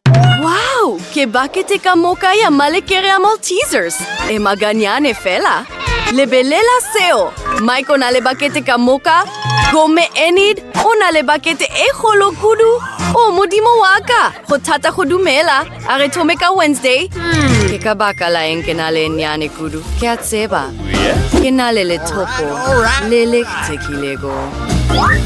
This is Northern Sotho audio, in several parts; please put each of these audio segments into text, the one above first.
Wow! Ke bakete ka moka ya malekere a Maltesers. E maganyane fela. Lebelela seo! Mike o na le bakete ka moka, gomme Enid o na le bakete e kgolo kudu. O modimo wa ka! Go thata go dumela. A re thome ka Wednesday. Ke ka baka la eng ke na le nyane kudu. Ke a tseba. Ke na le lethopo le le kgethekilego.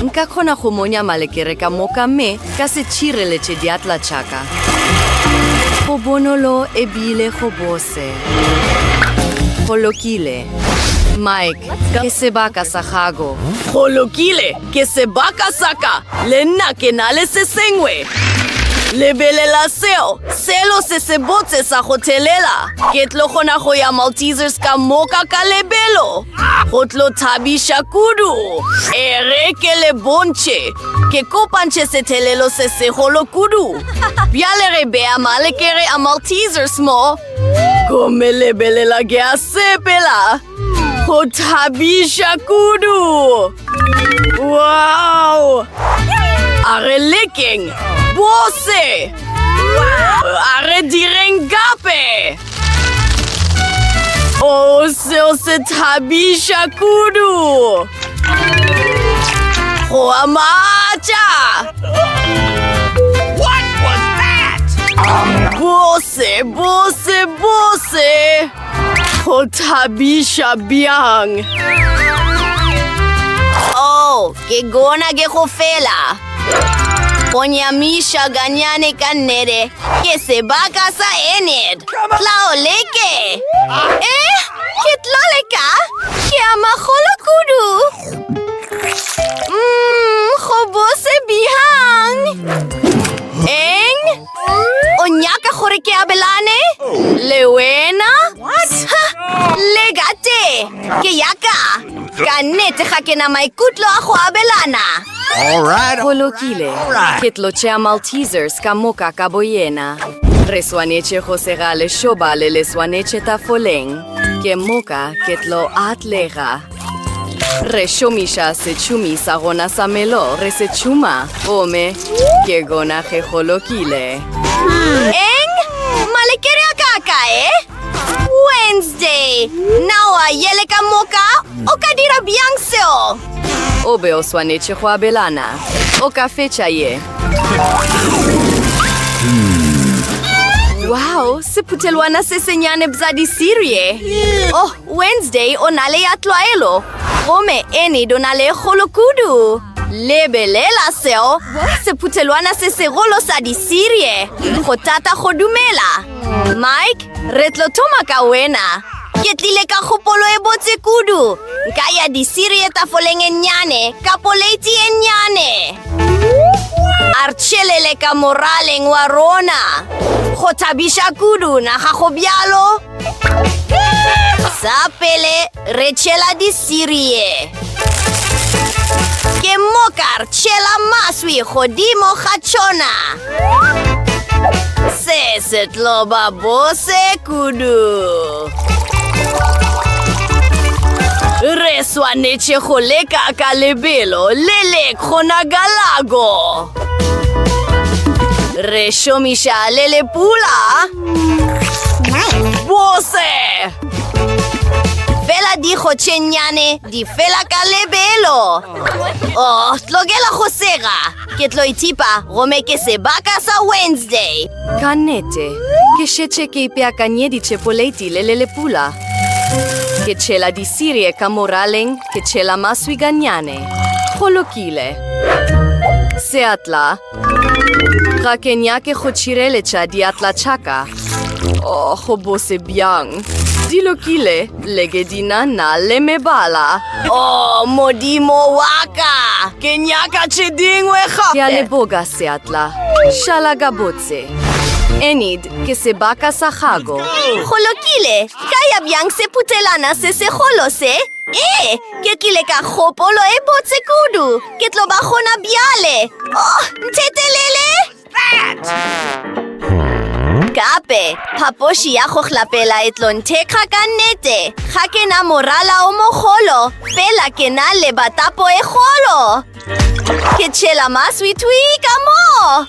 Nka kgona go monya malekere ka moka mme Ka se tšhireletše diatla tša ka. Go bonolo e bile go bose. Go lokile. Mike, ke sebaka sa gago. Go lokile, ke sebaka sa ka. Le nna ke na le se sengwe. Lebelela seo, selo se se botse sa go thelela. Ke tlo kgona go ya Maltesers ka moka ka lebelo. Go tlo thabiša kudu. Ere ke le bontšhe. Ke kopantše sethelelo se segolo kudu. Bjale re bea malekere a Maltesers mo. Gomme lebelela ke a sepela. Go thabiša kudu. Wow! A re lekeng. Bose! A re direng gape. Oh, seo se thabiša kudu go a matša bose bose bose go thabiša bjang oh Ke gona ke go fela. Go nyamiša ganyane ka nnete ke sebaka sa Enid. Tla o leke. Eh, ke tlo leka. Ke a magolo kudu. Mmm, go bose bihang. Eng? O nyaka gore ke abelane le wena? Ha! Lega te! Ke yaka! Ka nnete ga ke na maikutlo a go abelana. Go lokile. Ke tlo tšea Maltesers ka moka ka boyena. Re swanetše go sega lešoba le le swanetše tafoleng. Ke moka ke tlo atlega. re šomiša setšhumi sa gona sa melo re se tšhuma gomme ke gona ge go lokile eng malekere a ka kae wednesday nawa yele ka moka o ka dira bjang seo o be o swanetše go abelana o ka fetša ye wow sephutelwana se senyane bza disirie oh Wednesday o na le ya tlwaelo, gomme Enid o na le e kgolo kudu. Lebelela seo, sephuthelwana se segolo sa disirie. Go thata go dumela. Mike, re tlo thoma ka wena. Ke tlile ka kgopolo e botse kudu. Nka ya disirie tafoleng e nnyane, ka poleiti e nnyane. A re tšhelele ka moraleng wa rona. Go thabiša kudu, na ga go bjalo? Sa pele re tšhela disirie. Ke mokar tšhela maswi godimo ga tšona. Se se tlo ba bose kudu. Re swanetše go leka ka lebelo le le kgonagalago. Re šomiša le lepula. bose fela digo tše nnyane di fela ka lebelo o oh, tlogela go sega ke tlo ithipa gome ke sebaka sa wednesday ka nnete ke šetše ke ipeakanyeditše poleiti le le lepula ke tšhela disirie ka moraleng ke tšhela maswi ganyane go lokile seatla Ga ke nyake go tšhireletša diatla tšaka. O, oh, go bose bjang. Di lokile, leke di na na le mebala. O, oh, modimo wa ka! Ke nyaka tše dingwe gape! Ke a leboga, seatla. Šala ka botse. Enid, ke sebaka sa gago. Go lokile, ka ya bjang sephutelana se segolo se? Ee, ke tlile ka kgopolo e botse kudu. Ke tlo ba gona bjale. Oh, nthetelele! Gape, phapoši ya go hlapela e tlo nthekga ka nnete. Ga ke na morala o mogolo, fela ke na le batapo e golo. Ke tšhela maswitwi ka moo.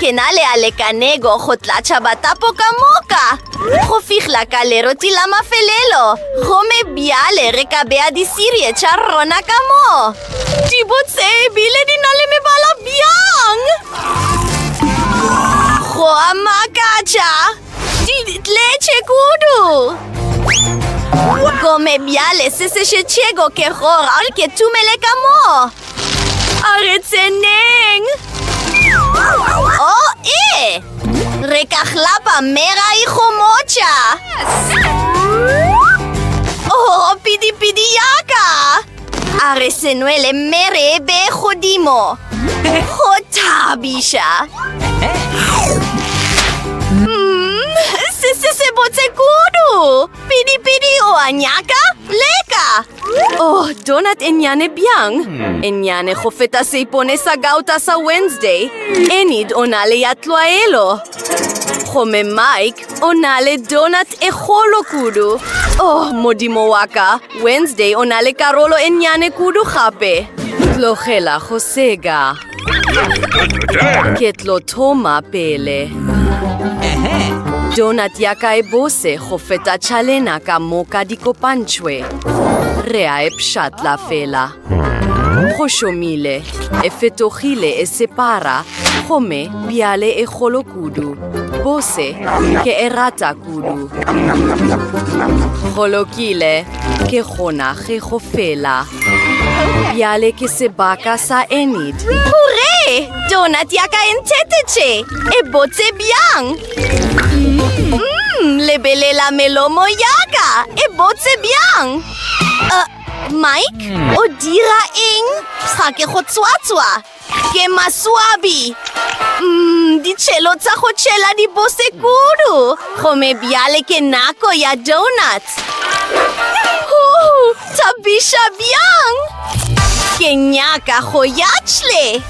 Ke na le a lekanego go tlatša batapo ka moka go fihla ka leroti la mafelelo gomme bjale re ka bea disirie tša rona ka moo di botse ebile di na le mebala bjang go a makatša di tletše kudu gomme bjale se se šetšego ke gora ke tumele ka moo A re tseneng! O e! Re ka hlapa mme ra ikgomotša! Oh, pidipidi ya ka! A re se nwele mme re e be godimo! Go thabiša! Mmm, se se se botse kudu! Pidipidi o a nyaka? Leka! Oh, donut e nnyane bjang? E nnyane go feta seipone sa gauta sa Wednesday. Enid o na le ya tlwaelo. Gomme Mike o na le donut e kgolo kudu. Oh, modimo wa ka, Wednesday o na le karolo e nnyane kudu gape. Tlogela go sega. Ke tlo thoma pele. Donut ya ka e bose go feta tšhalena ka moka di kopantšhwe. Re a e pšhatla fela. Go šomile, e fetogile e separa, gomme bjale e kgolo kudu. Bose, ke e rata kudu. Go lokile. Ke gona ge go fela. Bjale ke sebaka sa Enid. Hurre! Donut ya ka e nthetetše! E botse bjang! Mmm, lebelela melomo ya ka! E botse bjang! Uh, Mike, o dira eng? Ga ke go tswatswa! Ke maswabi. Mm, ditšhelo tsa go tšhela di bose kudu. Gome bjale ke nako ya donuts. Huu, thabiša bjang. Ke nyaka go ya tšhle.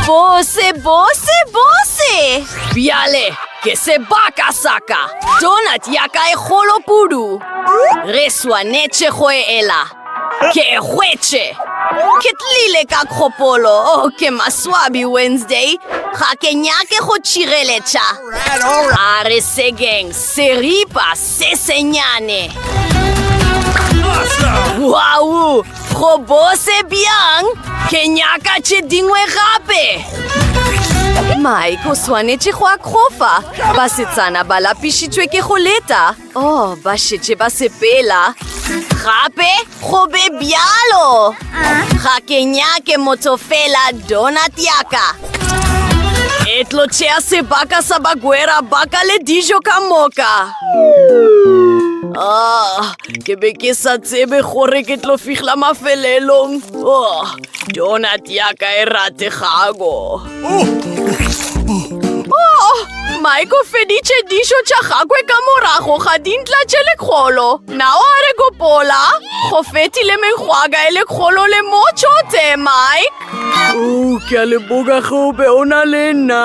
Bose, bose, bose. Bjale, ke sebaka saka. Donut ya ka e golo kudu. Re swanetše go e ela. Ke hwetše! Ke tlile ka kgopolo, oh, ke maswabi Wednesday. Ga ke nyake go tšireletša. A re sekeng, seripa se senyane. Wow! Go bose bjang? Ke nyaka tše dingwe gape! Mike o swanetše go akgofa. Basetsana ba lapišitšwe ke go leta. Oh, ba šetše ba sepela. Gape go be bjalo. Ga ke nyake motho fela donut yaka. E tlo tšea sebaka sa bagwera ba ka le dijo ka moka. Ah, ke be ke sa tsebe gore ke tlo fihla mafelelong. Oh. Donut ya ka e rategago. Oh, Mike o feditše dišo tša gagwe ka morago ga dintla tše lekgolo. Nao a re gopola, go fetile mengwaga e lekgolo le motšo tse, Mike. Oh, ke a leboga gobe o na le nna.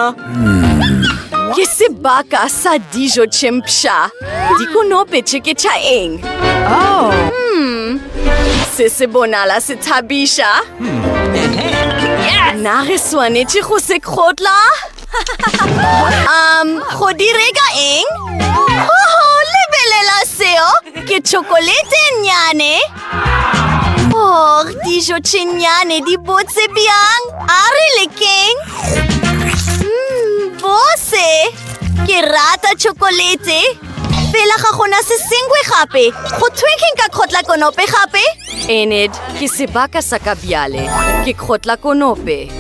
Ke sebaka sa dijo tše mpsha. Dikonope tše ke tša eng? Oh. Hmm. Se se bonala se thabiša. Hmm. Na re swanetše go se kgotla? um, go direka eng? Oho, lebelela seo! Ke tšhokolete nnyane! Oh, dijo tše nnyane di botse bjang! A re lekeng! Mmm, bose! Ke rata chocolate. Fela ga gona se sengwe gape. Go thwe ke nka kgotla konope gape? Enid, ke sebaka sa ka bjale. Ke kgotla konope.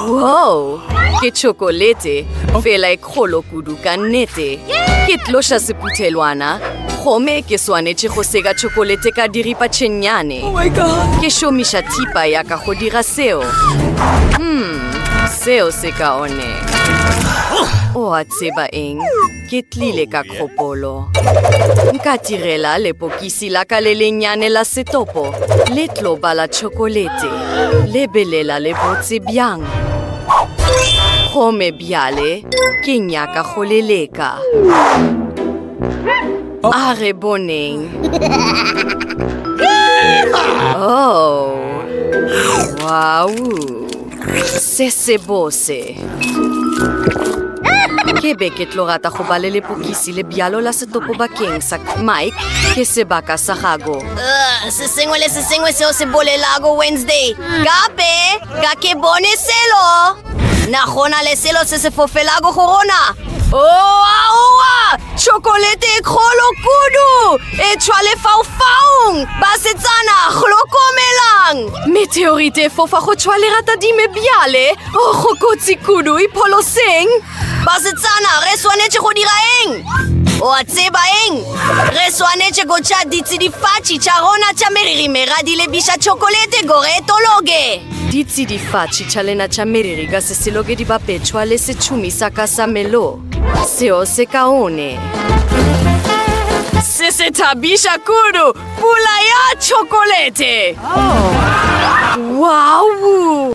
Wow! Ke chocolate. Fela e kgolo kudu ka nnete. Ke tloša sephuthelwana. Gome ke swanetše go seka chocolate ka diripa tšhennyane. Oh Ke šomiša thipa ya ka go dira seo. Hmm. Seo se kaone. O a tseba eng? Ke tlile ka kgopolo. Nka tirela lepokisi la ka le lennyane la setopo le tlo bala tšhokolete. Lebelela le botse bjang. Gome bjale ke nyaka go le leka. a re boneng oh wow se se bose ke be ke tlo rata go ba le lepokisi le bjalo la setopo bakeng sa mike ke sebaka sa gago se sengwe le se sengwe seo se bolelago wednesday gape Ga ke bone selo. Na gona le selo se se fofelago go rona? Oaoa! Chokolete e kgolo kudu! E tshwa le faufaung! Basetsana, hlokomelang! Meteorite e fofa go tshwa le ratadime bjale! O go kotsi kudu, ipholoseng! Basetsana, re swanetše go dira eng? O a tseba eng? Re swanetše go tša ditsidifatši tša rona tša meriri mera di lebiša tšhokolete gore e tologe. Ditsidifatši tša lena tša meriri ka seselo ke dibapetšwa le setšhumi sa ka sa melo. Seo se kaone. Se se thabiša kudu, pula ya tšhokolete! Wow!